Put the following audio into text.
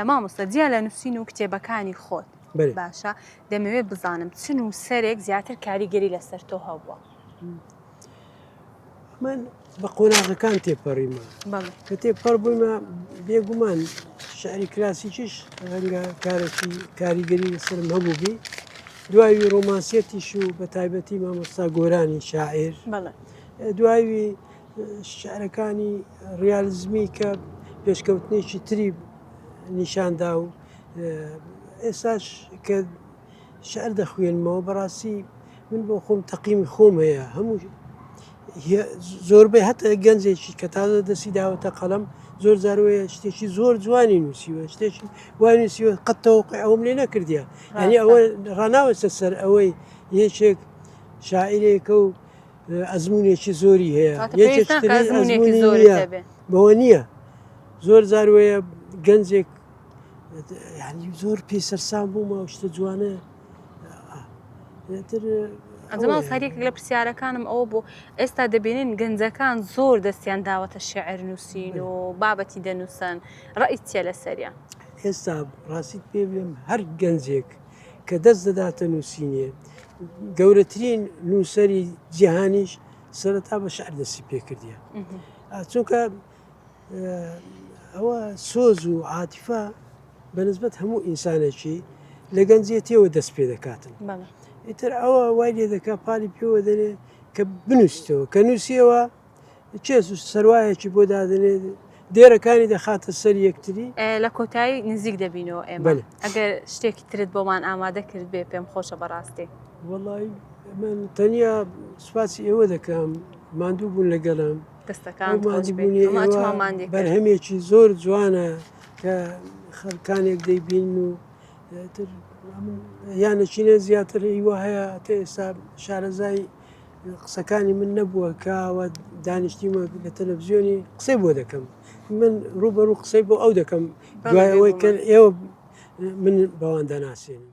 مامۆستا جیا لە نووسین و کتێبەکانی خۆت باشە دەمەوێت بزانم چن و سەرێک زیاتر کاریگەری لەسەر تۆ هەبووە من بە قۆناغەکان تێپەڕیمە کە تێپەڕ بوویمە بێگومان شعری کلاسیکیش ڕەنگە کارێکی کاریگەری لەسرم هەبوو بی دوایی ڕۆمانسیەتیش و بە تایبەتی مامۆستا گۆرانی شاعر دوایی شیعرەکانی ڕیالیزمی کە پێشکەوتنێکی تری نیشاندا و ئێستاش کە شعر دەخوێنمەوە بەڕاستی من بۆ خۆم تەقیمی خۆم هەیە هەموو زۆربەی هەتا گەنجێکی کە تازە دەستی داوەتە قەڵم زۆر زارۆیە شتێکی زۆر جوانی نووسیوە شتێکی وای نووسیوە قەتەوە ئەوم لێ نەکردە ئەنی ئەوە ڕناوەسە سەر ئەوەی یەکێک شاعیرێکە و ئەزمونێکی زۆری هەیە بەوە نییە زۆر زار وەیە گەنجێک زۆر پێ سەرسان بوومە شتە جوانە ئەنجما سەرێک لە پرسیارەکانم ئەوە بۆ ئێستا دەبینین گەنجەکان زۆر دەستیان داوەتە شعر نووسین و بابەتی دەنووسن ڕئیتە لە سەریان ئێستا ڕاستیت پێ بێم هەر گەنجێک کە دەست دەداتە نووسینێ، گەورەترین نووسەری جیهانیش سەرەتا بە شعر دەستی پێکردە. چونکە ئەوە سۆز و عاتیفا بەنسبەت هەموو ئینسانێکی لە گەنجێتیەوە دەست پێ دەکاتن. ئیتر ئەوە وای لێ دەکات پالی پێوە دەرێ کە بنووسیتەوە کە نووسیەوە کێ زوو سەروایەکی بۆ دادەنێ دێرەکانی دەخاتە سەر یەکتری. لە کۆتایی نزیک دەبینەوە ئێمە بەلێ. ئەگەر شتێکی ترت بۆمان ئامادە کرد بێ پێم خۆشە بەڕاستی. وەڵایی من تەنیا سوپاسی ئێوە دەکەم ماندوو بوون لەگەلم. دەستەکانت خۆش بێت. ماندووبوونی ئەمە ئێوە ئەچمەوە ماندی کرد. بەرهەمێکی زۆر جوانە کە خەلکانێک دەیبینن و تر یان ئەچینە زیاتر هیوا هەیە تە ئێستا شارەزای قسەکانی من نەبووە کە ئەوە دانیشتیمە لە تەلەڤزیۆنی قسەی بۆ دەکەم من ڕوبەرو قسەی بۆ ئەو دەکەم دوای ئەوەی کە ئێوە من بەوان دەناسێنم